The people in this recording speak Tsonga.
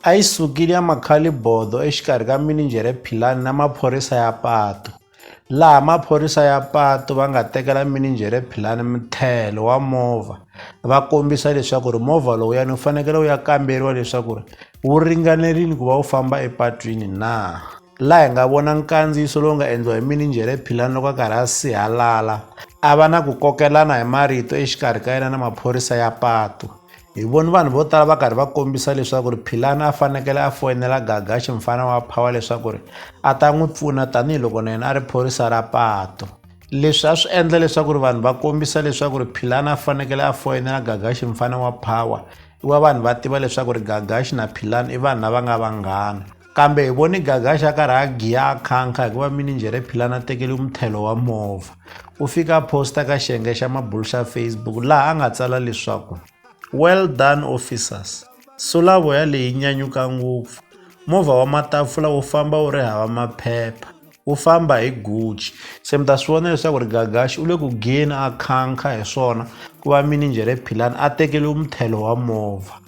A yi sukile ya makhalibodho exikarhi ka mininjhere Philani na maphorisa ya patu, laha maphorisa ya patu va nga tekela mininjhere Philani muthelo wa movha va kombisa leswaku ri movha lowuyani wu fanekele wu ya kamberiwa leswaku ri wu ringanerile ku va wu famba epatwini na. Laha hi nga vona nkandziyiso lowu nga endliwa hi mininjhere Philani loko a karhi a sihalala a va na ku kokelana hi marito exikarhi ka yena na maphorisa ya patu. Hi vone vanhu vo tala va karhi va kombisa leswaku ri Philani a fanekele a foyinela Gagaxi mfana wa Phawa leswaku ri a ta n'wi pfuna tanihiloko na yena a ri phorisa ra pato leswi a swi endla leswaku ri vanhu va kombisa leswaku ri Philani a fanekele a foyinela Gagaxi mfana wa Phawa i wa vanhu va tiva leswaku ri Gagaxi na Philani i vanhu lava nga vanghana Kambe hi voni Gagasha a karhi a giya a khankha hikuva mininjhere Philani a tekele muthelo wa movha. U fike a posta ka xiyenge xa mabulu xa Facebook laha a nga tsala leswaku Well done officers, sulavoya leyi nyanyuka ngopfu. Movha wa matafula wu famba wu ri hava maphepha, wu famba hi Gucci. Se mi ta swi vona leswaku ri Gagasha u le ku giyeni a khankha hi swona ku va mininjhere Philani a tekele muthelo wa movha.